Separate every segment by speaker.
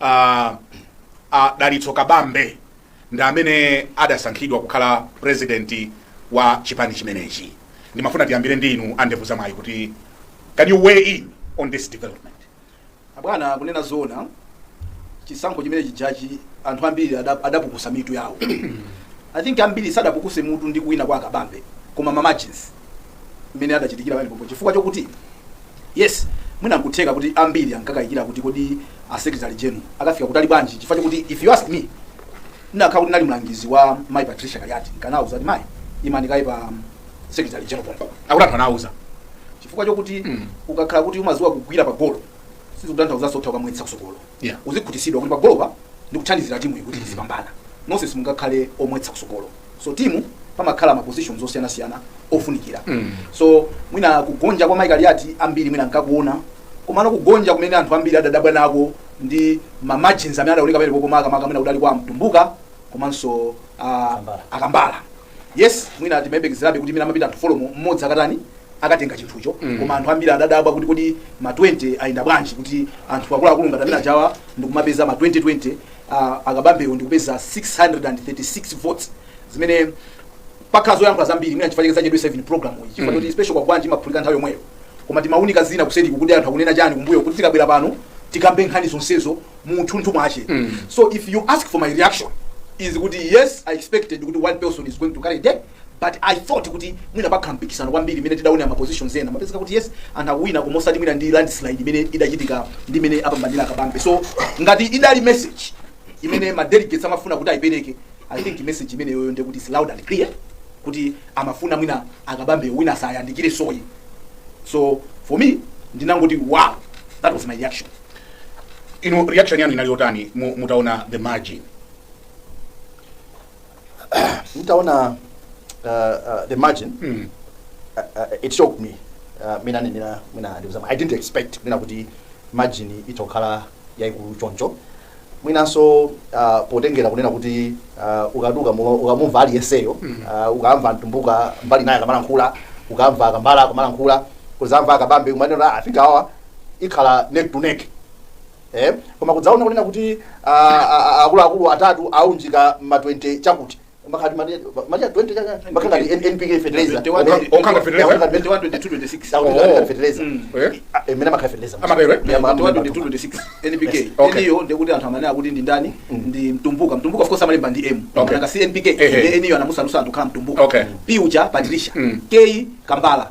Speaker 1: a a dalitso kabambe ndi amene adasankhidwa kukhala purezidenti wa chipani chimenechi ndimafuna tiyambire ndi inu a ndevu zamwayi kuti can you weigh in on this development
Speaker 2: abwana kunena zoona chisankho chimene chijachi anthu ambiri ada- adapukusa mitu yawo i think ambiri sadapukuse mutu ndi kuwina kwa akabambe koma ma margins mmene adachitikira pamenepopo chifukwa chokuti yes mwina nkutheka kuti ambiri ankakayikira kuti kodi a secretary general akafika kutali bwanji chifukwa chokuti if you ask me ndakhala kuti ndali mlangizi wa mai patricia kaliati nkanauza kuti mai imani kaye pa secretary general pompo akuti anthu
Speaker 1: anauza chifukwa chokuti
Speaker 2: ukakhala kuti umaziwa kugwira pa golo sizikutanthauza sotha ukamwetsa kusogolo yeah. uzikhutisidwa kuti pagolopa ndikuthandizira timu iyi kuti mm. izipambana nonse simungakhale omwetsa kusogolo so timu pamakhala ma positions osiyanasiyana ofunikira mm. so mwina kugonja kwa mai kaliati ambiri mwina ankakuona komano kugonja kumene anthu ambiri adadabwa nako ndi ma margins amene adaoneka pamenepopo makamaka mwina kudali kwa mtumbuka komanso ah, Akambala. akambala yes mwina timayembekezerabe kuti mwina amapita anthu folo mmodzi akatani akatenga chinthucho koma anthu ambiri adadabwa kuti kodi ma 20 ayenda bwanji kuti anthu akuluakulu ngati amene ajawa ndikumapeza ma 20 20 ah, akabambewo ndikupeza 636 votes zimene pakhala zoyankhula zambiri mwina chifukwa chake zachedwetsa program iyi chifukwa choti special kwagwanji imaphulika nthawi yomweyo koma timaunika zina kuseri kuti anthu akunena chani kumbuyo kuti tikabwera pano tikambe nkhani zonsezo mu uthunthu mwache so if you ask for my reaction is kuti yes i expected kuti one person is going to carry day but i thought kuti mwina pakhala mpikisano kwambiri mmene tidaonera ma positions ena mapezeka kuti yes anthu akuwina koma osati mwina ndi landslide imene idachitika ndi mmene apambanira akabambe so ngati idali message imene ma delegates amafuna kuti ayipereke i think message imeneyoyo ndi kuti is loud and clear kuti amafuna mwina akabambe wina asayandikireso ayi so for me ndinangoti wow that was my reaction
Speaker 1: Inu reaction yanu inali yotani mu- mutaona the margin?
Speaker 3: ntaona uh, uh, the margin Mm. uh, uh, it shocked me uh, mwina nenera mwina ndikuzama i didn't expect mwina kuti margin itokhala yaikulu choncho mwinanso uh, potengera kunena kuti uh, ukaduka mu- ukamumva aliyenseyo uh, ukamva mtumbuka mbali inayi akamalankhula ukamva akambala akamalankhula kuzamva akabambe kumanena i think awa ikhala neck to neck eh koma kudzaona kunena kuti ah, ah, ah, akuluakulu atatu aunjika ma 20 chakuti makati mali mali ya 20 chakuti amakhala ngati NPK fertilizer 21, Okanga- okanga fertilizer?
Speaker 1: Okanga fertilizer. 21, 22, 26. Okanga
Speaker 2: Oh. fertilizer.
Speaker 3: Mm. Eh? Ah, eh, mene makanga fertilizer. Amatero, eh? Ya, ma- ma-
Speaker 2: 21-26 NPK Okay. N-yo ndekuti anthu amanena kuti ndi ndani ndi mtumbuka mtumbuka of course amalemba ndi M Okay. nanga si NPK Ehe. ndi N-yo anamusandutsa kukhala mtumbuka Okay. P uja Patricia Mm. K Kambala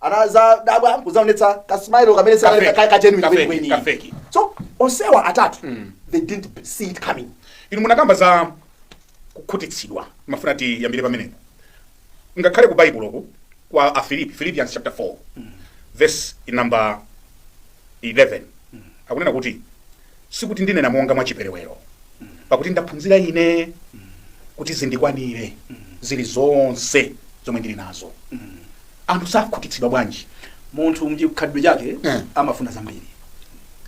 Speaker 3: anazadabwa nkuzaonetsa ka smile kamene ka genuine Ka fake, kwenikweni. ka
Speaker 1: fake. so
Speaker 3: onsewa atatu they didn't see it coming inu munakamba za
Speaker 1: kukhutitsidwa ndimafuna tiyambire pamenepo ngakhale ku baibuloku kwa afilipi philippians chapter 4 verse number 11 akunena kuti sikuti ndinena monga mwa chiperewero pakuti ndaphunzira ine kuti zindikwanire zili zonse zomwe ndili nazo anthu sakhutitsidwa bwanji munthu mchikhalidwe
Speaker 2: chake Eh. amafuna zambiri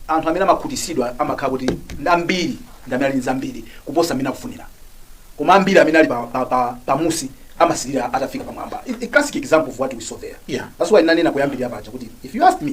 Speaker 2: anthu amene amakhutitsidwa amakhala kuti ndi ambiri ndi amene ali ndi zambiri kuposa mmene akufunira koma ambiri amene ali pa, pa, pa, pamunsi amasilira atafika pamwamba I- a classic example of what we saw there Yeah. that's why nanena kuyambirira paja kuti if you ask me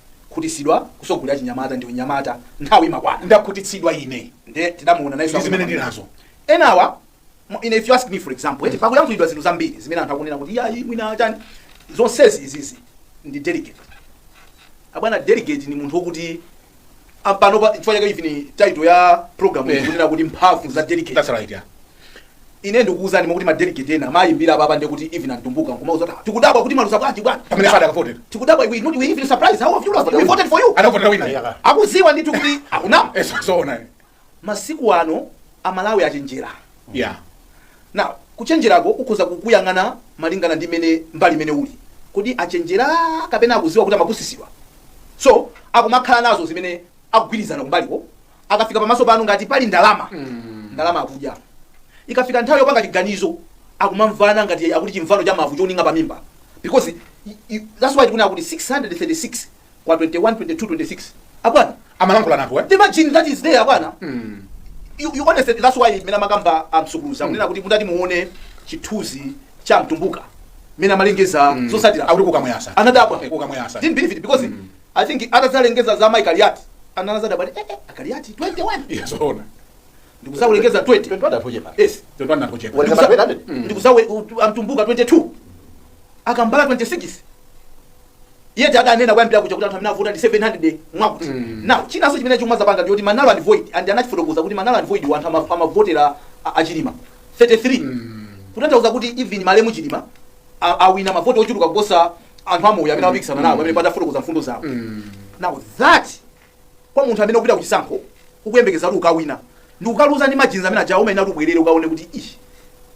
Speaker 2: Ndakhutitsidwa kutsogolera chinyamata ndi unyamata nthawi imakwana. Ndakhutitsidwa
Speaker 1: ine nde tidamuona
Speaker 2: nayenso ndi zimene ndili nazo.
Speaker 1: Enawa
Speaker 2: if you ask me for example eti pakuyankhulidwa zinthu zambiri zimene anthu akunena kuti iyayi mwina chani zonsezi izizi ndi delegate. Abwana delegate ndi munthu wokuti panopa chifukwa chake even title ya program iyi ikunena kuti mphamvu za delegate. That's right yeah. ine ndikukuuzani kuti madelegate ena amayimbira apapa kuti even a Mtumbuka nkumauza kuti tikudabwa kuti mwaluza bwanji bwana pamene sadakavotera tikudabwa
Speaker 1: we not we even
Speaker 2: surprised how have you lost we voted for you anavotera wina akuziwa
Speaker 1: ndithu kuti
Speaker 2: akunama zoona
Speaker 1: masiku
Speaker 2: ano amalawi achenjera
Speaker 1: yeah
Speaker 2: now kuchenjerako ukhoza kukuyang'ana malingana ndi mmene mbali imene uli kodi achenjera kapena akuziwa kuti amapusitsidwa so akumakhala nazo zimene akugwirizana kumbaliko akafika pamaso panu ngati pali ndalama ndalama akudya ikafika nthawi yopanga chiganizo akumamvana ngati akuti chimvano cha mavu choninga pa mimba because i- i- that's why tikunena kuti 636 kwa 21 22 26 abwana amalankhula nankho eh?
Speaker 1: the margin that is
Speaker 2: there abwana you, you honestly that's why mmene amakamba a Msukuluza kunena kuti mutati muone chithunzi cha Mtumbuka mmene amalengeza zotsatira akuti kukamuyasa anadabwa
Speaker 1: Kukamuyasa.
Speaker 2: didn't believe it
Speaker 1: because
Speaker 2: I think atazalengeza za Mai Kaliati anazadabwa eh, eh, Kaliati 21 Yes,
Speaker 1: ona.
Speaker 2: nkuzalengeza 20 Twende atoje pale.
Speaker 1: yes Twende atoje
Speaker 2: pale. Walisema 200. a Mtumbuka 22 a Kambala 26 yet adanena koyambirira kuja kuti anthu amene avota ndi 700 mwakuti now chinanso chimene chinazapanga ndi choti ma null and void and anachifotokoza kuti ma null and void anthu ama- amavotera a- a Chilima 33 kutanthauza kuti even malemu Chilima a- awina mavoti ochuluka kuposa anthu amoyo amene amapikisana nawo amene padafotokoza mfundo zawo now that kwa munthu amene ukupita kuchisankho ukuyembekeza kuti ukawina nde ukaluza ndi ma margins amene ajawo umayenera kuti ubwerere ukaone kuti ishi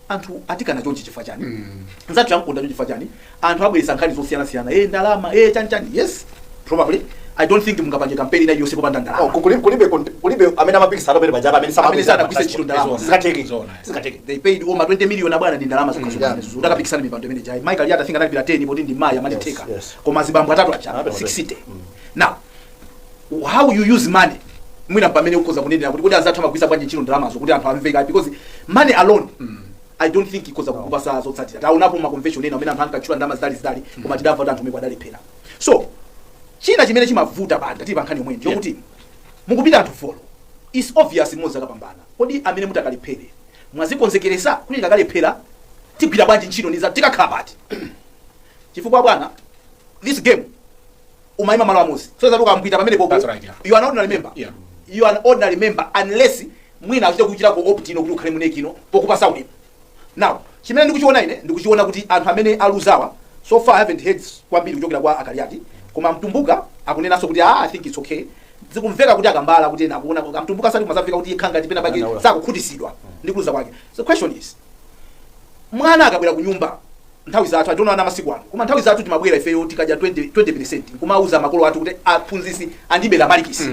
Speaker 2: anthu atikana chonchi chifukwa chani nzathu yamkonda chonchi chifukwa chani anthu abweretsa nkhani zosiyanasiyana e ndalama e chanichani yes probably i don't think mungapange kampeni ina yonse popanda ndalama kulibe
Speaker 3: amene amapikisana pamene pajapa amene amene sanagwiritse ntchito ndalama
Speaker 2: sizingatheke Zona.
Speaker 3: Zingateke. They paid
Speaker 2: over 20 million abwana ndi ndalama zokha zokha. Yeah. Ndakapikisana mipando imene jai. mai Kaliati think anali bila 10 poti ndi mayi amali Yes, theka. yes. Koma zibambo atatu aja Anapita 60. Now how you use money mwina pamene ukhoza kunenera kuti kuti azathu amagwiritsa bwanji ntchito ndalamazo kuti anthu amveka because money alone I don't think ikhoza kukupasa zotsatira. Taonapo ma convention ena amene anthu ankatchula ndalama zitalizitali koma tidamva kuti anthu omwe adalephera. So china chimene chimavuta bwana tili pa nkhani yomweyo ndi yokuti mukupita anthu folo. It's obvious mmozi akapambana. Kodi amene mutakalephere mwazikonzekeresa kuti tikakalephera tigwira bwanji ntchito ndi anzathu tikakhala pati chifukwa bwana this game umayima malo amodzi so zoti ukapita pamenepopo That's right, yeah. you are not ordinary member Yeah. you are an ordinary member unless mwina achita kuchita co-opt in kuti ukhale mu NEC muno pokupatsa udindo now chimene ndikuchiona ine ndikuchiona kuti anthu amene aluzawa so far I haven't heard kwambiri kuchokera kwa a Kaliati koma Mtumbuka akunenanso kuti ah, i think it's okay zikumveka kuti a Kambala kuti ena akuona kuti a Mtumbuka sali kumazamveka kuti yekha ngati pena pake Anaula. sakukhutisidwa ndi kuluza kwake so question is mwana akabwera ku nyumba nthawi zathu osati ana masiku ano koma nthawi zathu timabwera ifeyo tikadya 20 20% kumauza makolo athu kuti aphunzisi andibera malikisi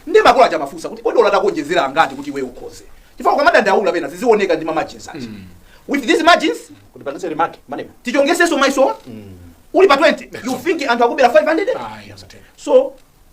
Speaker 2: ndi makolo aja amafunsa kuti kodi olo atakuonjezera angati kuti iwe ukhoze chifukwa ukamadandaula pena zizioneka ndi ma margins aja with these margins kuti upangitse remark
Speaker 3: Maneb atichongetsenso mayeso
Speaker 2: uli pa 20 you think anthu akubera 500 Ayi, asatero. so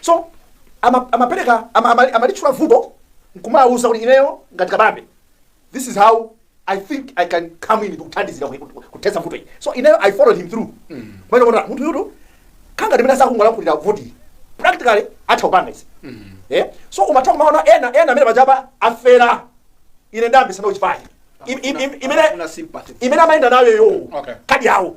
Speaker 3: so ama- amapereka ama- ama- amalitchula vuto nkumawauza kuti ineyo ngati Kabambe this is how i think i can come in ndikuthandizira ku- ku- kuthetsa vuto iyi so ineyo i followed him through kumuona kuti munthu uyutu angakhale mmene sakungolankhulira voti practically atha kupanga izi Eh? so umatha kumaona ena ena amene pajapa afera ine ndinayambitsa nawo chipani Im- im- im- imene Afuna sympathy. imene amayenda nayo yo Okay. kadi yawo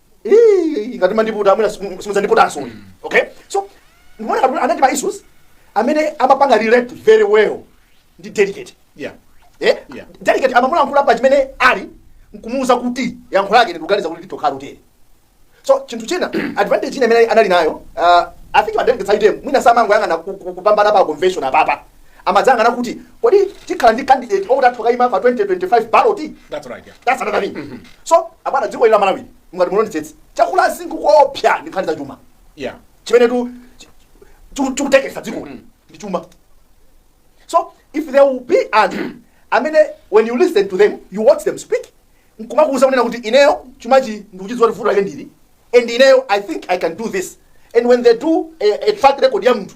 Speaker 3: Ii, ngati mwandiputa mwina simudzandiputanso okay so ndikuona kuti anali ndi ma issues amene amapanga relate very well ndi delegate yeah eh
Speaker 1: Yeah.
Speaker 3: delegate amamulankhula pa chimene ali nkumuuza kuti yankho lake ndikuganiza kuti litakhala utere so chinthu china advantage ina imene anali nayo uh, i think ma delegates aja mwina samangoyang'ana ku- ku- kupambana pa convention apapa amadzayang'ana kuti kodi tikhala ndi candidate okuti atha kukayima pa 2025 ballot That's right, yeah. that's
Speaker 1: another thing
Speaker 3: so abwana dziko ili la Malawi mukati mulondetsetse chakula chinthu koopsa ndi nkhani za chuma Yeah. chimene
Speaker 1: tu
Speaker 3: chi- chu- chikutekesa dziko ndi chuma so if there will be anthu amene when you listen to them you watch them speak nkumakuuza kunena kuti ineyo chumachi ndikuchidziwa kuti vuto lake ndili and ineyo i think i can do this and when they do a, a track record ya munthu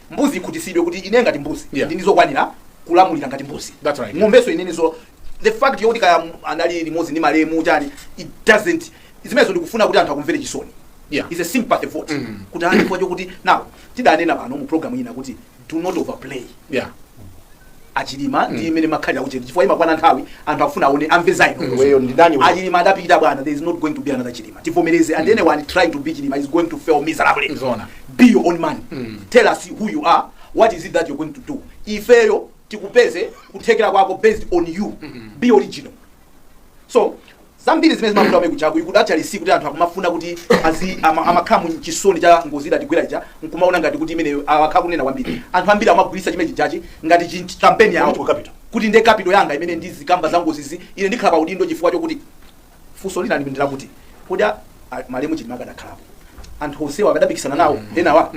Speaker 2: mbuzi ikhutisidwe kuti ine ngati mbuzi Yeah. ndine wokwanira kulamulira ngati mbuzi That's right. ng'ombenso inenenso the fact yokuti kaya anali limodzi ndi malemu chani it doesn't zimenezo ndi kufuna kuti anthu akumvere chisoni Yeah. it's a
Speaker 1: sympathy
Speaker 2: vote Mm. kuti anthu chifukwa chokuti now tidanena pano mu program ina kuti do not overplay yeah achilima ndi imene makhalira kuchedwa chifukwa imakwana nthawi anthu akufuna aone amve za inu Iweyo ndi ndani
Speaker 3: iweyo? achilima adapita bwana there is
Speaker 2: not going to be another chilima tivomereze and anyone trying to be chilima is going to fail miserably Zoona. be your own man tell us who you are what is it that you're going to do ifeyo tikupeze kuthekera kwako based on you be original so zambiri zimene zimavuta kumene kujaku you could actually see kuti anthu akumafuna kuti azi ama- amakhala mu chisoni cha ngozi idatigwera ija nkumaona ngati kuti imeneyo akhala kunena kwambiri anthu ambiri amagwiritsa chimene chijachi ngati chi- kampeni yawo Political capital. kuti nde capital yanga imene ndizikamba za ngozizi ine ndikhala pa udindo chifukwa chokuti funso lina ndi lakuti kodi a- a- malemu chilima akadakhalapo anthu onsewa akadapikisana nawo enawa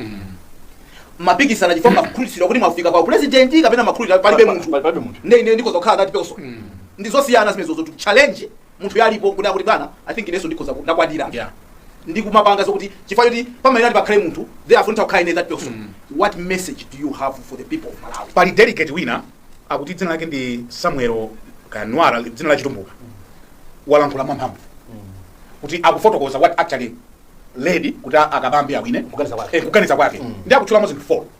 Speaker 2: amapikisana chifukwa amakhulupirira kuti mwafika pa upresidenti kapena amakhulupirira palibe munthu Palibe munthu. nde ine ndikoza kukhala ngati person ndizosiyana zimenezozo to challenge munthu alipo kunena kuti bwana i think ineso ndikhoza ku- ndakwanira Yeah.
Speaker 1: ndi kumapanga
Speaker 2: zokuti chifukwa choti pamaina pakhale munthu therefore ntakhala ine that person what message do you have for the people of malawi pali delegate wina
Speaker 1: akuti dzina lake ndi samuel kanwara dzina la chitumbuka walankhula mwamphamvu kuti akufotokoza what actually led kuti a- akabambe awine Kuganiza kwake. Eh, kuganiza kwake ndi akutchulamo zinthu 4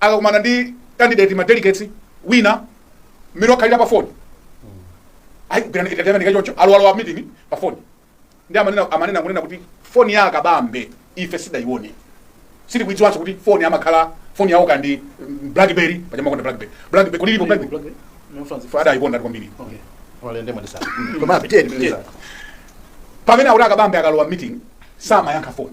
Speaker 1: akakumana ndi candidate ma delegates wina mmene wakhalira pa phone ayi kugirana itatere ndi choncho alowa alowa meeting pa phone ndi amanena amanena kunena kuti phone ya akabambe ife sidaione sili kuidziwanso kuti phone amakhala phone yawo kapena ndi mm, blackberry paja amakonda blackberry blackberry kodi ilipo blackberry
Speaker 2: fada ayikonda ndi
Speaker 1: kwambiri kale
Speaker 2: ndiye
Speaker 3: mwandiuza koma pitirizani pitirizani
Speaker 1: pamene akuti akabambe akalowa meeting samayankha phone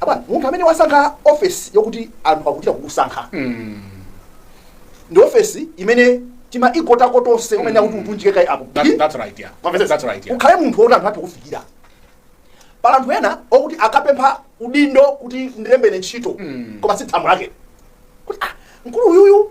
Speaker 3: abwana munthu amene wasankha ofesi yokuti anthu akuchita kukusankha ndi ofesi imene tima ego tako tonse timene akuti utiunjike kaye apo That, that's right, yeah.
Speaker 1: Mwamvetsa? That's right, yeah. ukhale munthu woti anthu athe
Speaker 3: kufikira pali anthu ena okuti akapempha udindo kuti ndilembere ntchito koma tsiku lake kuti ah, mkulu uyuyu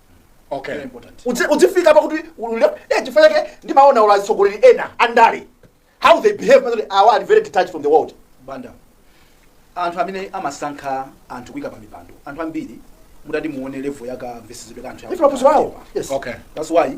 Speaker 3: okay
Speaker 1: Very important. Udzi-
Speaker 3: udzifika pakuti ulule- eh, chifukwa chake ndimaona kuti atsogoleri ena andale how they behave umaona zoti awa ali very detached from the world bwana
Speaker 2: anthu amene amasankha anthu kuika pa mipando anthu ambiri mutati muone level ya kamvetsedwe ka anthu Ife maphunziro awo. Yes.
Speaker 3: okay that's why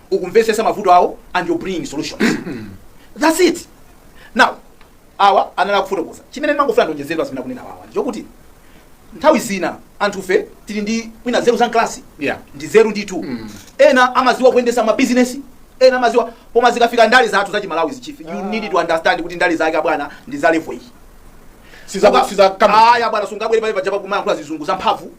Speaker 2: ukumvetsetsa mavuto awo and you bring solutions that's it now awa anali akufotokoza chimene ndimangofuna ndionjezere zimene akunena awa nchokuti nthawi zina anthufe tili ndi mwina nzeru za mklasi Yeah. ndi nzeru ndithu ena amaziwa kuyendesa mabizinesi ena amaziwa koma zikafika ndale zathu za chimalawi chief you need to understand kuti ndale zake abwana ndi za level iyi Siza- siza- kama- aya bwana sungabwere pale pajapo kumayankhula zizungu za mphamvu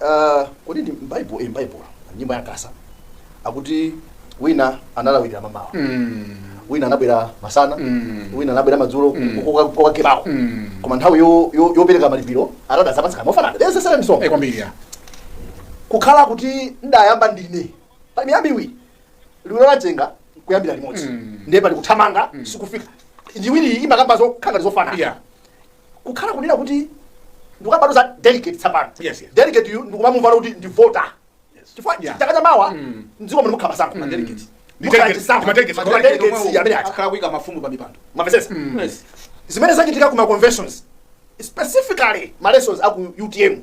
Speaker 3: Uh, kodi ndi mbaibulo eh, mbaibulo nyimbo ya nkasa akuti wina analawirira mamawa mm. wina anabwera masana mm. wina anabwera madzulo mm. kokakebako mm. koma nthawi yo- yo- yopereka malipiro anadzapatsidwa mofanana there's a certain song Eh, kwambiri
Speaker 1: ya
Speaker 3: kukhala kuti ndayamba ndine pali miyambi iwiri liwiro la mchenga kuyambira limodzi ndiye pali kuthamanga sikufika iwiri imakamba zokhangati zofanana Yeah. kukhala kunena kuti ndikukambatu za delegate tsapano Yes, yes. delegate yu ndikumamumvana kuti ndi voter chifukwa Yeah. chaka cha mawa Mm. mdziko muno mukhala zisankho ma delegate Ndi Mukhala delegate, chisankho. ma delegate, Ma ma delegate delegates omwewo amene aja akhala kuika mafumu pa
Speaker 2: mipando mwamvesesa
Speaker 3: Yes. zimene zachitika ku ma conventions specifically ma lessons aku utm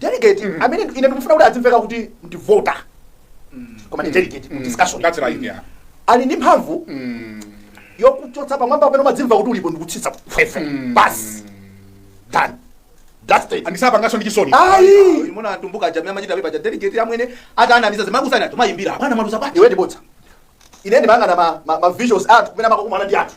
Speaker 3: delegate mm. amene ine ndikufuna kuti azimveka kuti ndi voter mm. koma ndi delegate mm. discussion that's right
Speaker 1: yeah ali ndi mphamvu
Speaker 3: mm. yokuchotsa pamwamba pamene umadzimva kuti ulipo ndikutsitsa fwefe mm. basi done that's it and sapanganso ndi chisoni
Speaker 1: ayi umawona
Speaker 2: a Mtumbuka ija amachita pepa cha delegate amwene ata anamiza zimakusana anthu amayimbira bwana mwaluza pa iwe ndibotsa
Speaker 3: ine ndimanga na ma, ma, ma visuals atu kumene amakumana ndi anthu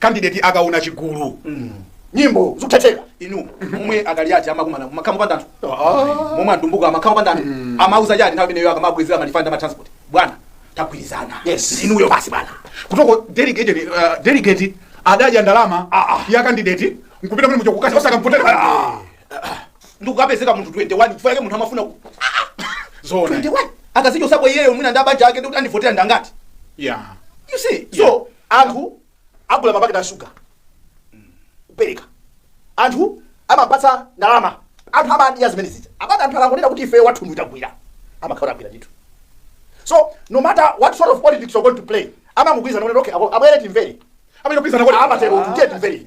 Speaker 1: candidate akaona chigulu
Speaker 3: nyimbo zikutheka inu
Speaker 2: momwe a Kaliati amakumana mumakambapa ndi anthu momwe a Mtumbuka amakambapa ndi anthu amauza chani nthawi imeneyo akamabwezera ma refund ama transport bwana tagwirizana Yes. inuyo basi bwana kutoko delegate
Speaker 1: uh, delegate adadya ndalama ya candidate nkupita muli muja kukasiya osaka
Speaker 2: mvotera ndikukapezeka munthu 21 chifukwa yake munthu amafuna ku-
Speaker 1: zona 21
Speaker 2: akazichotsapo iyeyo mwina ndi abanja ake ndikuti andivotera ndi angati yeah
Speaker 1: you see so
Speaker 3: Anthu agula mapaketi a sugar kupereka. Anthu amapatsa ndalama. Anthu amadya zimene zija. Abwana anthu akangonena kuti ifeyo wathu ndi uyu tagwira. Amakhala kuti agwira ndithu. So no matter what sort of politics you're going to play, amangogwirizana kuti okay, abo- abwere timvere. Amene kupitsana kuti
Speaker 1: Amatero kuti tiye timvere.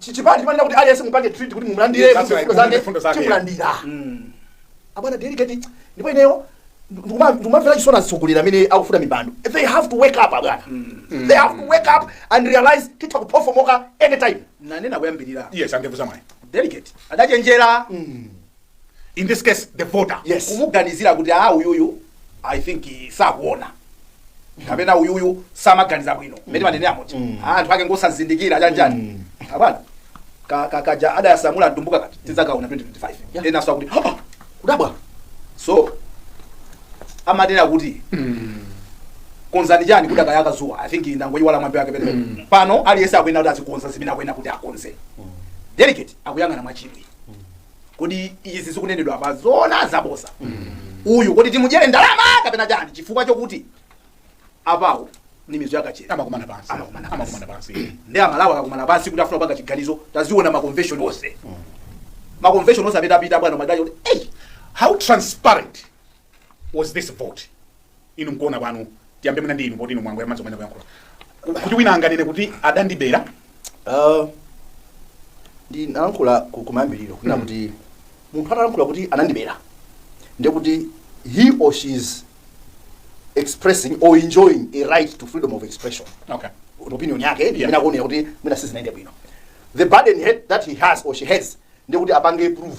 Speaker 3: Chi- chipani chimanena kuti aliyense mupange treat kuti mumulandire Yes, mfundo mfundo zake, mfundo zake. timulandira abwana delegate
Speaker 1: ndipo
Speaker 3: ineyo ndikuma- ndikumamvera chisoni atsogoleri amene akufuna mipando they have to wake up abwana they have to wake up and realize titha kuphofomoka anytime nanena kuyambirira
Speaker 2: yes a Ndevuzamwayi
Speaker 1: delegate adachenjera in this case the voter Yes.
Speaker 3: kumuganizira kuti
Speaker 2: a uyuyu i think eh, sakuona kapena uyuyu samaganiza bwino mmene manene amuja anthu ake ngosazindikira chanjani abwana ka- ka- kaja adayasamula Mtumbuka kakuti tidzakaona 2025 Yeah. ena sakuti "Ah, kudabwa so amanena kuti konza chani kudakayaka dzuwa i think ndangoyiwala mwambi wake bwinobwino pano aliyense akuyenera kuti azikonza zimene akuyenera kuti akonze delegate akuyang'ana mwachidwi kodi izi zikunenedwa apa zoona zabosa uyu kodi timudyere ndalama kapena chiyani chifukwa chokuti apawo ni mizu yakachera amakumana pansi Amakumana
Speaker 1: pansi. amakumana pansi ndi Amalawi
Speaker 2: akakumana pansi kuti afuna kupanga chiganizo taziona maconvention onse maconvention onse apitaapita bwana Madali kuti eyi how
Speaker 1: transparent was this vote inu mkuona kwanu tiyambe mwina ndi inu poti inu mwangomaliza kumene kuyankhula Ku- kuti wina anganene kuti adandibera Ah,
Speaker 3: ndinalankhula ku- kumayambiriro kunena kuti munthu atalankhula kuti anandibera ndiye kuti he or she is expressing or enjoying a right to freedom of expression okay opinion
Speaker 1: yake Yeah.
Speaker 3: imene akuonera kuti mwina sizinayende bwino the burden he- that he has or she has ndiye kuti apange proof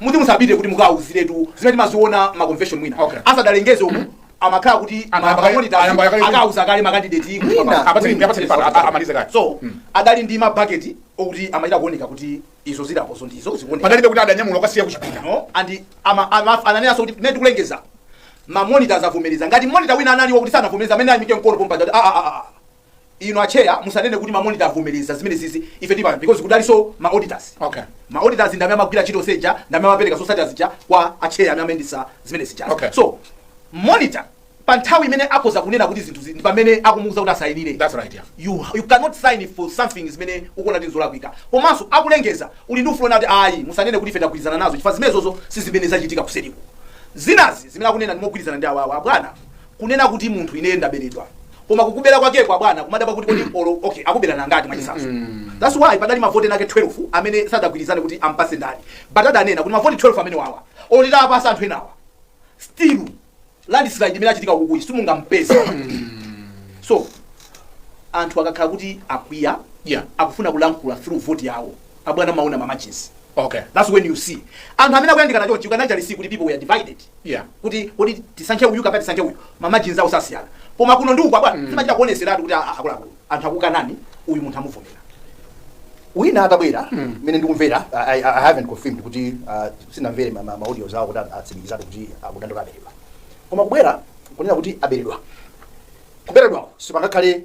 Speaker 2: muti musapite kuti mukawauziretu zimene timaziona ma convention mwina Okay. asadalengeze uku amakhala kuti Anayamba kale- mamonita anayamba kale- akauza kale makandideti Mwina. Apatseni- apatseni pano,
Speaker 1: a- amalize kale. so adali ndi
Speaker 2: mabaketi okuti amachita kuoneka kuti izo zilipozo ndizo zikuoneka panalibe kuti adanyamula kukasiya
Speaker 1: kuchipinda no and
Speaker 2: ama- ama- ananenanso kuti mmene tikulengeza mamonita avomereza ngati monita wina anali wokuti sanavomereza ameneyo ayimike mkono pompa n'kunati aa Inu acheya musanene kuti ma monitor avomereza zimenezizi ife tipanga because kudalinso ma auditors. Okay. Ma
Speaker 1: auditors ndi amene
Speaker 2: amagwira ntchito yonse ija ndi amene amapereka zotsatira zija kwa acheya amene amayendetsa zimene zija. Okay. So monitor pa nthawi imeneyo akhoza kunena kuti zinthu zi- ndi pamene akumuuza kuti asayinire. That's right, yeah.
Speaker 1: You, you cannot
Speaker 2: sign for something zimene ukuona kuti nzolakwika komanso akulengeza uli ndi ufulu onena kuti ayi musanene kuti ife tagwirizana nazo chifukwa zimenezozo si zimene zachitika kuseriko zinazi zimene akunena ndikugwirizana ndi awawa abwana kunena kuti munthu ineyo ndaberedwa koma kukubera kwakeko abwana kumadabwa kuti kodi olo okay akubera nanga mwachisanzo that's why padali mavoti enaake 12 amene sadagwirizane kuti ampase ndani but adanena kuti mavoti 12 amenewawa olo nditawapasa anthu enawa still landslide imene yachitika ukuyi simungampeze so anthu akakhala kuti akwiya Yeah. akufuna kulankhula through vote yawo abwana umaona mamajinsi Okay. that's when
Speaker 1: you see
Speaker 2: anthu amene akuyandikana chonchi you can actually see kuti people were divided Yeah. kuti
Speaker 1: kuti
Speaker 2: tisankhe uyu kapena tisankhe uyu mamajinsi awo sasiyana koma kuno ndi uku abwana mm. zimachita kuoneseratu kuti a- a- akuluakulu anthu akukanani uyu munthu amuvomera
Speaker 3: wina atabwera mmene ndikumvera I, I, i haven't confirmed kuti uh, sinamvere ma- ma- ma audios awo kuti atsimikizadi kuti akudandaula aberedwa koma kubwera kunena kuti aberedwa kuberedwako sipangakhale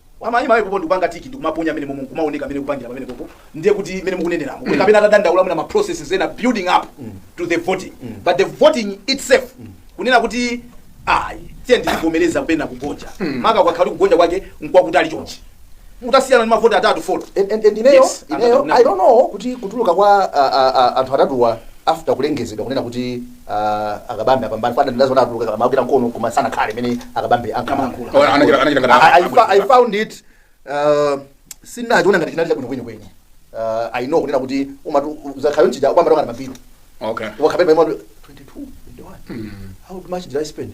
Speaker 3: Amayima
Speaker 2: pompo ndikupanga tiki ndikumaponya mmenemomo nkumaoneka mmene akupangira pamenepopo ndiye kuti mmene mukuneneramu mm. kapena atadandaula mwina ma processes ena building up mm. to the voting mm. but the voting itself mm. kunena kuti ayi tiyeni tizivomereza penapake kugonja mm. maka kukakhala kuti kugonja kwake nkwakutali chonchi mutasiyana ndi mavoti atatu folo and, and, and ineyo yes, ineyo
Speaker 3: i don't know kuti kutuluka kwa uh, uh, uh, anthu atatuwa after kulengezedwa kunena kuti Ah, a Kabambe apambana fana ndawaona atuluka amagwira mkono koma sanakhale mmene a Kabambe ankalankhula Koma anachita- anachita ngati I, I, fa- I found it uh, sinachiona ngati chinali chabwino kwenikweni uh, I know kunena kuti umatu zakhayo nchija kwamba ndokana mapiro okay wakapemba imwa 22 21 how much did I spend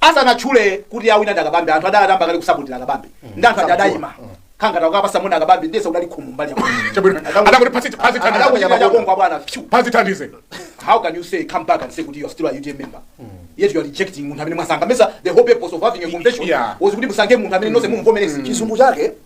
Speaker 2: asanatchule kuti awina ndi a Kabambe anthu adayamba kale kusapotira a Kabambe ndi anthu aja adayima khangata kukapasa muna kabambe ndiyese udali khumu mbali yako Chabwino. Adakuti phazi- phazi thandize.
Speaker 1: adakuchita chakongo abwana phew. phazi thandize how can you
Speaker 2: say come back and say kuti you are still a UTM member yet you are rejecting munthu amene mwasankha mesa the whole purpose of having a convention Yeah. was kuti musankhe munthu amene nonse mumvomereze chizungu chake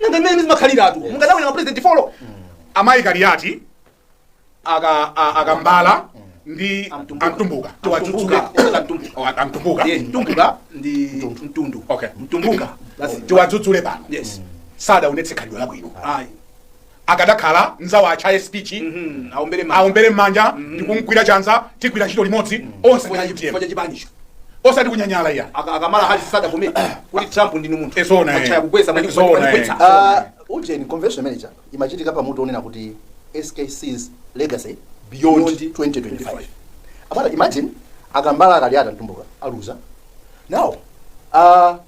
Speaker 2: nanga mmene zimakhaliratu mukadawina mapresident folo amayi
Speaker 1: Kaliati aka a- a Kambala ndi a Mtumbuka. a
Speaker 2: Mtumbuka tiwadzudzule Oh, a- a
Speaker 1: Mtumbuka
Speaker 2: Mtumbuka ndi mtundu Okay.
Speaker 1: Mtumbuka
Speaker 2: basi tiwadzudzule
Speaker 1: pano yes sadaonetse
Speaker 2: khalidwe
Speaker 1: labwino ayi akadakhala mzawo achaye speech mm, aombere m'manja, aombere m'manja mm, ndikumgwira chanza tigwira ntchito limodzi mm, onse ndi UTM kwa chipanicho
Speaker 2: osati kunyanyala
Speaker 1: iya a Kamala Harris
Speaker 2: adavomera kuti Trump ndinu munthu e zoona achaya kugwetsa manje
Speaker 1: zoona
Speaker 2: kugwetsa ah, ujeni convention
Speaker 3: imene ija imachitika pa mutu onena kuti SKC's legacy beyond, beyond 2025 abwana imagine a Kambala a Kaliati a Mtumbuka aluza now uh,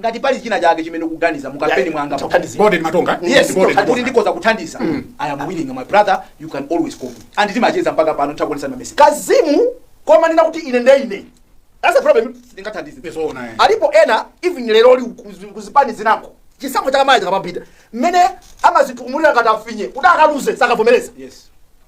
Speaker 1: ngati pali
Speaker 2: china chake chimene ukuganiza mu kampeni mwanga Chakuthandizira. Borden
Speaker 1: Matonga. yes Borden kuti Matonga.
Speaker 2: ndikoza kuthandiza i am willing my brother you can always call me and ndimacheza mpaka pano nditakuonetsa ma message kazimu
Speaker 3: kumanena kuti ine nde ine that's a problem ndingathandize Yes, oh,
Speaker 2: naye.
Speaker 1: alipo
Speaker 3: ena even lero li kuzi- kuzipani zinako chisankho chakamaya chakapambita mmene amazitukumulira ngati a finye kuti akaluza sakavomereza yes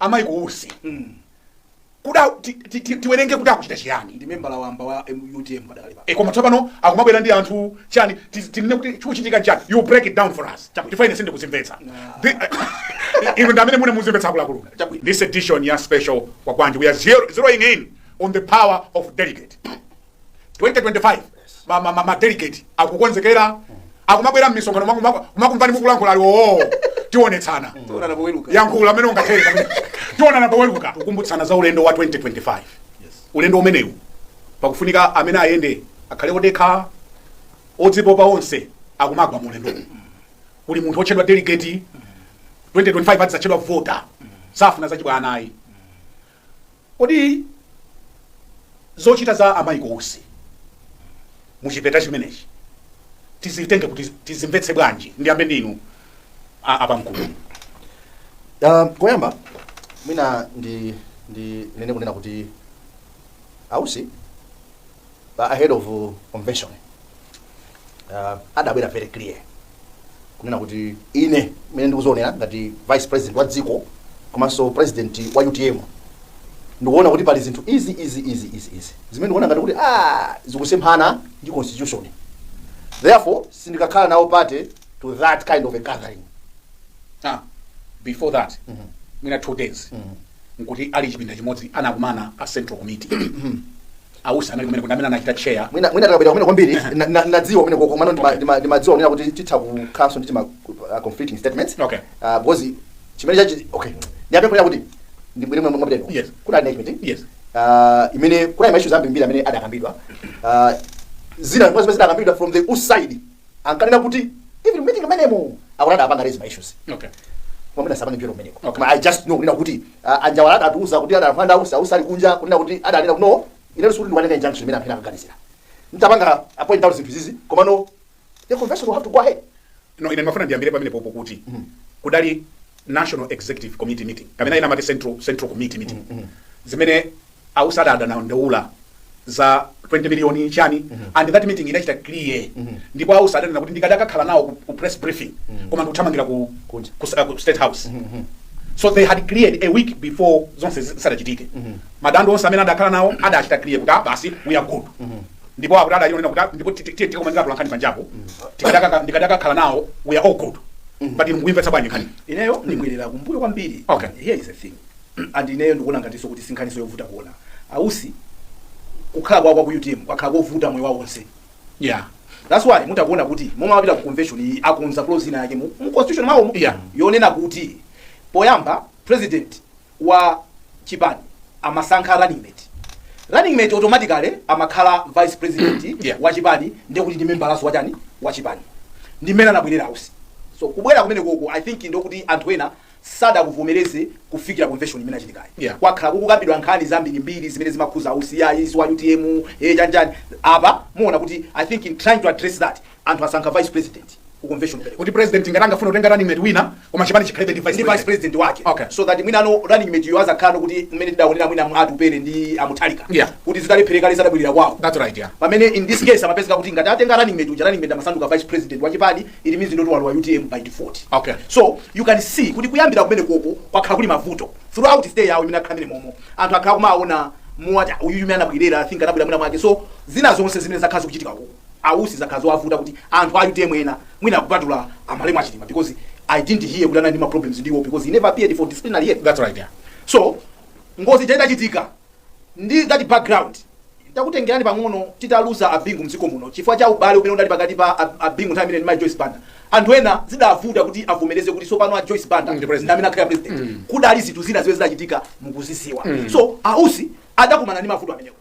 Speaker 1: a Michael Usi mm. kuda ti- ti- ti- tiwerenge kuti akuchita chiyani ndi membala wamba wa
Speaker 2: M- UTM padakali pano e koma tsopano akumabwera
Speaker 1: ndi anthu chani ti- tinene kuti chikuchitika chani you break it down for us chifukwa ine sindikuzimvetsa Thi- inu ndi amene mwina muzimvetsa akuluakulu Chabwino. this edition ya special Kwagwanji we are zero, zeroing in on the power of delegate 2025 ma ma ma, ma delegate akukonzekera akumabwera mmisonkhano mwa- mwa- kumakumvani mukulankhula ali oo tionetsana Tionana poweruka. yankhula mmene ungathere pamene. tionana poweruka kukumbutsana za ulendo wa 2025 ulendo umenewu pakufunika amene ayende akhale odekha odzipopa onse akumagwa mu ulendo kuli munthu otchedwa delegate 2025 adzatchedwa vota safuna zachibwana ayi Kodi zochita za a Michael Usi mu chipeta chimenechi tizitenge kuti tizimvetse bwanji? Ndiyambe ndi inu a, a pamkulu. Uh,
Speaker 3: koyamba mwina ndi ndinene kunena kuti a Usi pa ahead of uh, convention uh, adabwera very clear kunena kuti ine mene ndikuzoonera ngati vice president wa dziko komanso president wa utm ndikuona kuti pali zinthu izi izi izi izi izi zimene ndikuona ngati kuti ah, zikusemphana ndi constitution therefore sindikakhala nawo party to that kind of a gathering Ah,
Speaker 1: before that, mwina two days. nkuti ali chipinda chimodzi anakumana a central committee ausi anali kumeneko ndi amene anachita chair mwina mwina tikapita kumeneko
Speaker 3: kwambiri na- na- nadziwa kumeneko komano ndima- ndima- ndimadziwa kunena kuti titha kukhalanso ndi ti ma uh, conflicting statements Okay. Ah, because chimene chachi okay ndiyambe kunena kuti ndibwere momwe mwapitako Yes. ku NEC
Speaker 1: meeting
Speaker 3: Yes.
Speaker 1: Ah, imene
Speaker 3: kunali ma issues ambiri amene adakambidwa Ah, zina zimene zimene zidakambidwa from the usi side ankanena kuti even meeting imenemo akuti adapanga raise ma issues okay
Speaker 1: koma mwina sindipita
Speaker 3: kumeneko Okay. koma i just know kunena kuti ah, anjawala adatiuza kuti adalankhula ndi ausi ausi ali kunja kunena kuti adanena kuti no ine sikuti ndikukatenga injunction imene anthu ena akuganizira nditapanga point out zinthu izizi komano the convention will have to go ahead no ine ndimafuna ndiyambire
Speaker 1: pamenepopo kuti kudali national executive committee meeting kapena ina yake central, central committee meeting zimene ausi adadandaula za 20 miliyoni chani and that meeting inachita clear ndipo ausi adanena kuti ndikadakakhala nawo ku, ku press briefing koma ndikuthamangira ku, Kunja. ku, uh, ku state house so they had cleared a week before zonse zi- zisadachitike madando onse amene adakhala nawo adachita clear kuti ah, basi we are good ndipo akuti adali kunena kuti ndipo tiyeni tikakumane atolankhani panjapo ndikadakakhala nawo we are all good but inu mukuimvetsa bwanji nkhani ineyo ndibwerera
Speaker 2: kumbuyo kwambiri Okay. here is a thing and ineyo ndikuona ngatinso kuti sinkhaniso yovuta kuona ausi kukhala kwawo kwa ku utm kwakhala kovuta moyo wawo onse
Speaker 1: yeah that's why
Speaker 2: mukuona kuti momwe amapita ku convention iyi akonza clause ina yake mu mu constitution mwawomo mu- Yeah. yonena kuti poyamba president wa chipani amasankha running mate running mate automatically amakhala vice president Yeah. wa chipani ndiye kuti ndi membalaso wachani wa chipani ndi mmene anabwerera ausi so kubwera kumenekoko i think ndokuti anthu ena sadakuvomereze kufikira convention imene yachitikayi Yeah. kwakhala
Speaker 1: kukukambidwa
Speaker 2: nkhani zambirimbiri zimene zimakhuza ausi ayi si wa utm eh chanichani apa muona kuti i think in trying to address that Anthu asankha vice president ku convention kumeneko. kuti president ngati
Speaker 1: angafuna kutenga running mate wina koma chipani chikhalebe ndi vice ndi vice president president wake
Speaker 2: Okay. so that mwina
Speaker 1: no
Speaker 2: running mate yo azakhale kuti mmene tidaonera mwina mwa atupele ndi amutharika Yeah. kuti zitalephereka adabwerera kwawo that's right yeah pamene in
Speaker 1: this case amapezeka
Speaker 2: kuti ngati atenga running mate uja running mate amasanduka vice president wa chipani it means ndoti walowa utm by default Okay. so
Speaker 1: you
Speaker 2: can see kuti kuyambira kumenekoko kwakhala kuli mavuto throughout stay yawo imene akhala mmenemomo anthu akhala akumaona ngati uyu mmene anabwerera i think anabwera mwina mwake so zina zonse zimene zakhala zikuchitika koko a Usi zidakhala zowavuta kuti anthu a utm ena mwina kupatula a malemu a chilima because i didn't hear kuti anali ndi ma problems ndi iwo because he never appeared for disciplinary hearing. That's right, yeah. so ngozi ija idachitika ndi that background takutengerani pang'ono titaluza a Bingu mdziko muno chifukwa cha ubale umene unali pakati pa Ab- a Bingu nthawi imene ija ndi mai joyce banda anthu ena zidavuta kuti avomereze kuti sopano a joyce banda Ndi president. ndi amene akhala president kudali zinthu zina zimene zidachitika mukuzisiwa so a Usi adakumana ndi mavuto amenewo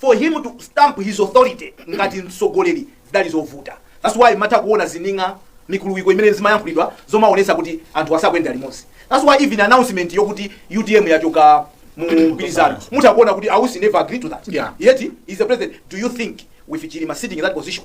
Speaker 2: for him to stamp his authority ngati mtsogoleri zidali zovuta that's why mutha kuona zining'a mikuluwiko imene zimayankhulidwa zomaonesa kuti anthu sakuyenda limodzi that's why even announcement yokuti utm yachoka mu mgwirizano mutha kuona kuti a Usi never agreed to that Yeah. yet he's the president do you think with chilima sitting in that position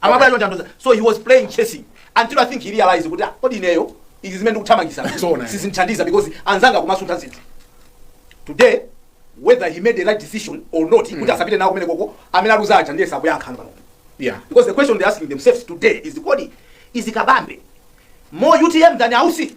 Speaker 2: amabwera chonchi asuntha so he was playing chasing until i think he realized kuti ah, kodi ineyo izi zimene ndikuthamangisa Zoona. sizinthandiza because anzanga kumasuntha zinthu today whether he made a right decision or not kuti asapite nawo kumene koko amene aluza aja ndiye sakuyankhana pano yeah because the question
Speaker 1: they're asking
Speaker 2: themselves today is kodi is kabambe more utm than a Usi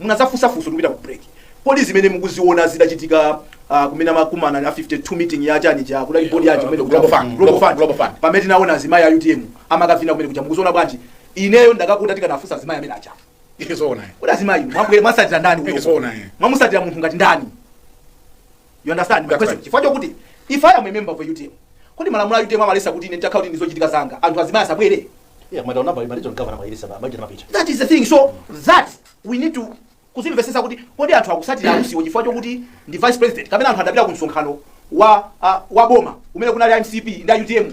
Speaker 2: Munazafunsa funso tikupita ku break kodi zimene mukuziona zidachitika uh, kumene amakumana 52nd meeting ya chani cha kudali board ya kumene kuja Global Fund, Global Fund. Global
Speaker 1: Fund. pamene tinaona azimayi
Speaker 2: a UTM amakavina kumene kuja mukuziona bwanji ineyo ndikati tikanafunsa azimayi amene aja Ndi zoona. kodi
Speaker 1: azimayi mwabwera
Speaker 2: mwasatira ndani Ndi zoona. mwamusatira
Speaker 1: munthu ngati
Speaker 2: ndani you understand my That's question right. chifukwa chokuti if i am a member of a utm kodi malamulo a utm amalesa kuti ine nditakhala kuti ndili ndi zochitika zanga anthu azimayi asabwere Yeah, koma taona
Speaker 3: pamaliro governor analetsa ba majina mapita. that is the thing so
Speaker 2: that we need to kuzimvesesa kuti kodi anthu akusatira a Usiwo chifukwa chokuti ndi vice president kapena anthu adapita ku msonkhano wa ah, wa boma umene kunali a mcp ndi a utm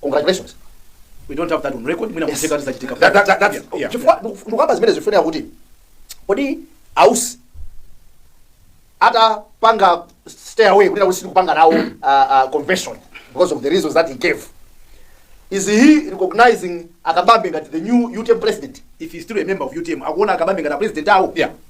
Speaker 3: congratulations we don't
Speaker 2: have that on record mwina kutheka zidachitika That- that- that- that's- Yeah, yeah.
Speaker 1: chifukwa ndiku- ndikukamba
Speaker 3: zimene zikufunika kuti kodi a Usi atapanga stay away kunena kuti sindikupanga nawo ah, ah, convention because of the reasons that he gave is he recognizing a Kabambe ngati the new utm president if he's still a member of
Speaker 2: utm akuona a Kabambe ngati a president awo Yeah.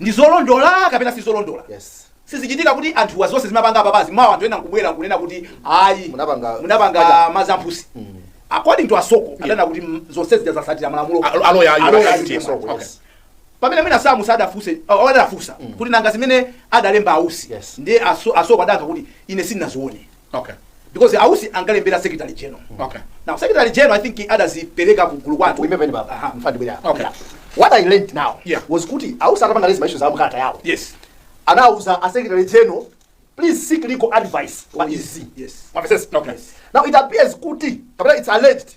Speaker 2: ndi zolondola kapena si zolondola yes
Speaker 3: sizichitika kuti
Speaker 2: anthuwa zonse zimene apanga apapazi mawa anthu ena nkubwera nkunena kuti ayi Munapanga- munapanga zamphusi according to a Soko adanena kuti mm, zonse zija zidasatira malamulo Alo- aloya ayu Aloya akati
Speaker 1: ayu. so Okay.
Speaker 2: yes pamene mwina samu sadafunse uh, adafunsa kuti nanga zimene adalemba a Usi Yes. ndiye aso- a Soko adayankha kuti ine sindinazione Okay. Because
Speaker 1: ausi
Speaker 2: angalembera secretary general. Mm. Okay. Now secretary
Speaker 1: general I
Speaker 2: think he others peleka ku gulu kwatu. Remember ni baba. Aha, mfandi bwera.
Speaker 3: Okay. What
Speaker 1: I learned
Speaker 3: now yeah. was kuti ausi
Speaker 2: akapanga lezi maisho
Speaker 3: za mkata yao. Yes.
Speaker 2: Anauza a
Speaker 3: secretary general please seek legal advice oh, pa yes. izi. Yes. Mafeses. Okay. Yes.
Speaker 2: Now
Speaker 1: it appears
Speaker 3: kuti kapena it's alleged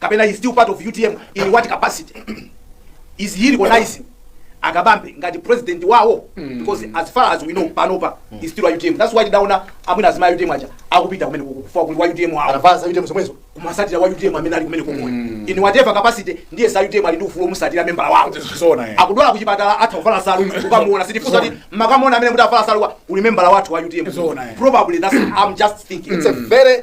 Speaker 2: kapena he's still part of utm in what capacity is he recognizing a Kabambe ngati president wawo mm. because as far as we know panopa mm. he's still utm that's why tidaona amwina azimayi a utm aja akupita kumene chifukwa kuli wa utm wawo anavala za utm zomwezo
Speaker 3: kumasatira wa utm
Speaker 2: amene ali kumene komwe mm. in whatever capacity ndiye a utm ali ndi ufulu omusatira member wawo zona eh. akudwala kuchipatala atha kuvala salu kukamuona sitifunsa kuti mukamuona amene kuti avala salu ndi member wathu wa utm zona eh. probably that's i'm just thinking it's a very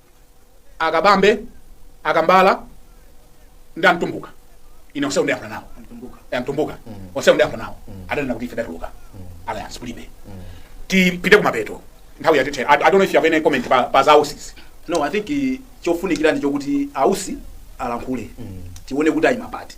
Speaker 1: akabambe akambala ndi amtumbuka ine onsewo ndayankhula nawo Eh, mtumbuka onsewo ndayankhula nawo adanena kuti ife tatuluka alliance kulibe tipite kumapeto nthawi yatithera I, i don't know if you have any comment pa, pa za ausi no i think eh,
Speaker 2: chofunikira ndi chokuti ausi alankhule tione kuti ayima pati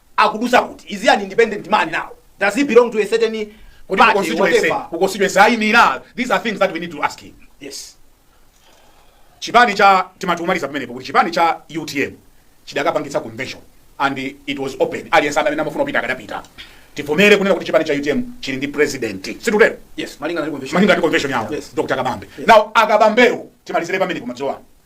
Speaker 2: akudutsa kuti? Is he an independent man now? Does he belong to a certain party, Kodi ku constituency, whatever? ku constituency
Speaker 1: ayimira? These are things that we need to ask him. Yes. chipani cha timatumaliza pamenepo kuti chipani cha utm chidakapangitsa convention and it was open aliyense amene amafuna kupita akadapita tivomere kunena kuti chipani cha utm chili ndi president situtero Yes, malinga na convention.
Speaker 2: malinga ndi convention yawo
Speaker 1: Yes. dr kabambe now akabambewo timalizire pamenepo madzuwa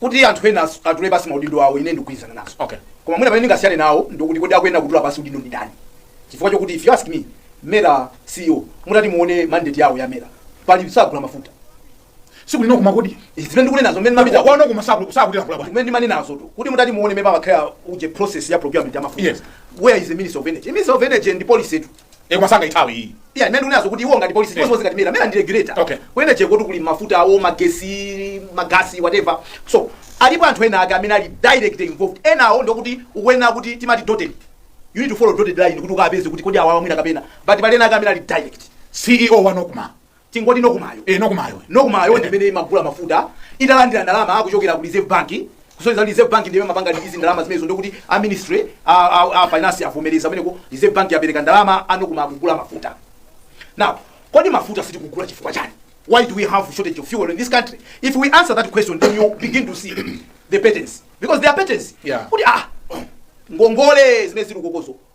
Speaker 2: kuti anthu ena asu- atule pasi maudindo awo ine ndikugwirizana nazo Okay. koma mwina pamene
Speaker 1: ndingasiyane
Speaker 2: nawo ndikuti kodi akuyenera kutula pasi udindo ndi ndani chifukwa chokuti if you ask me mera ceo mutati muone mandate yawo ya mera pali sagula mafuta siku
Speaker 1: lino koma kodi Izi zimene ndikunenazo
Speaker 2: mmene mapita waona koma saku- sakutira
Speaker 1: kula bwana kumene ndimanenazotu kuti
Speaker 2: mutati muone meba bakhala uje process ya procurement ya mafuta Yes. where is the minister of energy the minister of energy ndi policy tu e koma
Speaker 1: sangaithawe iyi iya zimene ndikunenazo kuti iwo
Speaker 2: ngati policy because ngati mera ndi regulator Okay. akuyenera acheke kuti kuli mafuta awo magesi magasi whatever so alipo anthu ena ake amene ali direct involved ena awo ndi okuti ukuyenera kuti timati dotted you need to follow dotted line kuti ukapeze kuti kodi awawa mwina kapena but pali ena ake amene ali direct ceo wa nocma
Speaker 1: Tingoti
Speaker 2: Nocmayo, ee Nocmayo, Nocmayo ndi imene imagula mafuta italandira ndalama kuchokera ku Reserve Bank, kusonyeza kuti Reserve Bank ndi imene imapanga release ndalama zimenezo ndiye kuti a ministry a, a, a finance avomereza kumeneko Reserve Bank yapereka ndalama a Nocma akugula mafuta. Now, kodi mafuta sitikugula chifukwa chani? Why do we have shortage of fuel in this country? If we answer that question then you begin to see the patterns because there are patterns. Yeah. Kuti ah ngongole zimene zili kukozo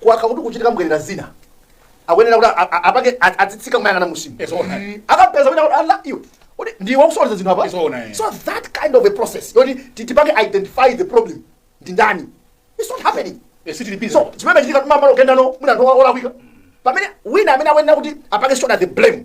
Speaker 3: kwakhala kukuchitika mbwerera zina akuyenera kuti a- a- apange a- adzitsika kumayang'ana munsimo Yes, all right. akapeza kuti ala iwe kuti ndiwe ukusokoneza zinthu apa Yes, all right. so that kind of a process yoti ti- tipange identify the problem ndi ndani it's not happening Yes, it repeats. so chimene chikuchitika tumamalo kendano mwina anthu olakwika pamene wina amene akuyenera kuti apange shoulder the blame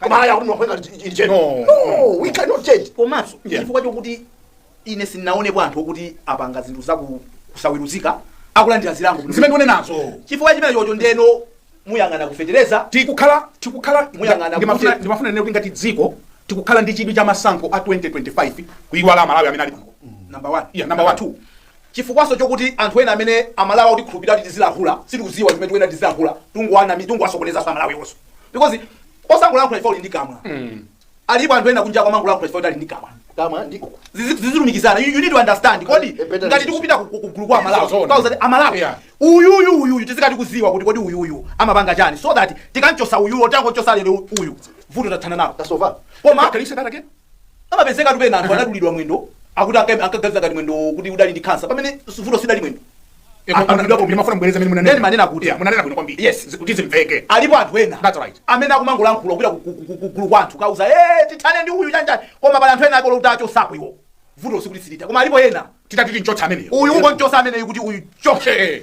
Speaker 3: koma haya kuti mwa- we can change no no we cannot change komanso Yeah. chifukwa
Speaker 2: chokuti ine sindinaonepo anthu okuti apanga zinthu zaku- kusaweruzika akulandira zilango bwino. zimene ndikunenazo
Speaker 1: chifukwa chimene
Speaker 2: chocho ndiyeno muyang'ana ku fetereza tikukhala
Speaker 1: tikukhala
Speaker 2: Muyang'ana ndimafuna kuti- ndimafuna ndinene
Speaker 1: kuti ngati dziko tikukhala ndi chidwi cha masankho a 2025 kuiwala amalawi amene ali pano number one Yeah, number one.
Speaker 2: two
Speaker 1: Chifukwaso
Speaker 2: chokuti anthu ena amene amalawi akutikhulupilira kuti tizilankhula sitikuziwa zimene tikuyenera tizilankhula tikungowanamiza tikungowasokonezanso amalawiwonso because osangolankhula chifukwa uli ndi kamwa alipo anthu ena kunjako amangolankhula chifukwa kuti ali ndi kamwa Kamwa ndi
Speaker 3: uku. Zizi- zizilumikizana you,
Speaker 2: you need to understand kodi Eh, better ngati than tikupita ku- ku- kugulu kwa amalawi Zona. tikawauza kuti amalawi Yeah. uyuyu uyuyu tizikhala tikuziwa kuti kodi uyuyu amapanga chani so that tikamchotsa uyuyu titangochotsa lero uyu vuto tathana nalo Tasova. koma Can
Speaker 3: you say that again?
Speaker 2: Amapezekatu pena anthu anadulidwa mwendo akuti anka- ankaganiza ngati mwendo uti udali ndi kansa pamene vuto sidali mwendo. Anadulidwa komwe.
Speaker 1: ndimafuna mbwereza mene Then manena kuti- Yeah, munanena bwino
Speaker 2: kwambiri Yes. Zi-
Speaker 1: kuti zimveke
Speaker 2: alipo
Speaker 1: anthu ena That's
Speaker 2: right.
Speaker 1: amene akumangolankhula
Speaker 2: kupita ku- ku- ku- kugulu kwa anthu kukauza "Eh, tithane ndi uyu chanjani koma pali anthu ena ake oti utachotsapo iwo vuto sikuti silitha koma alipo ena titati timchotse ameneyo
Speaker 1: uyu ungomchotsa ameneyu
Speaker 2: kuti uyu achoke Eh, eh.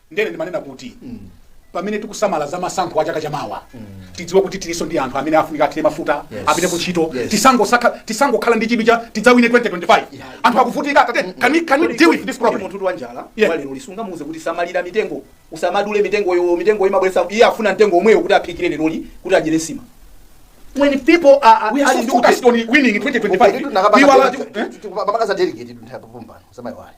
Speaker 3: Ndiyene
Speaker 1: ndimanena kuti pamene tikusamala za masankho a chaka chamawa tidziwe kuti tiliso ndi anthu amene afunika athire mafuta Yes. apite ku ntchito Yes. tisangosakha- tisangokhala ndi chidwi cha tidzawine 2025 anthu akuvutika atate can we, can we deal with this problem munthu wa njala Yeah. wa lero
Speaker 2: simungamuuze kuti samalira mitengo usamadule mitengoyo mitengo imabweresa iye afuna mtengo omwewo kuti aphikire leroli kuti adyere nsima when people are, are, We are ali so ndi focused
Speaker 1: ute- on winning in 2025. We were
Speaker 3: like, eh? pakakaza delegate nthawi popombano samayiwale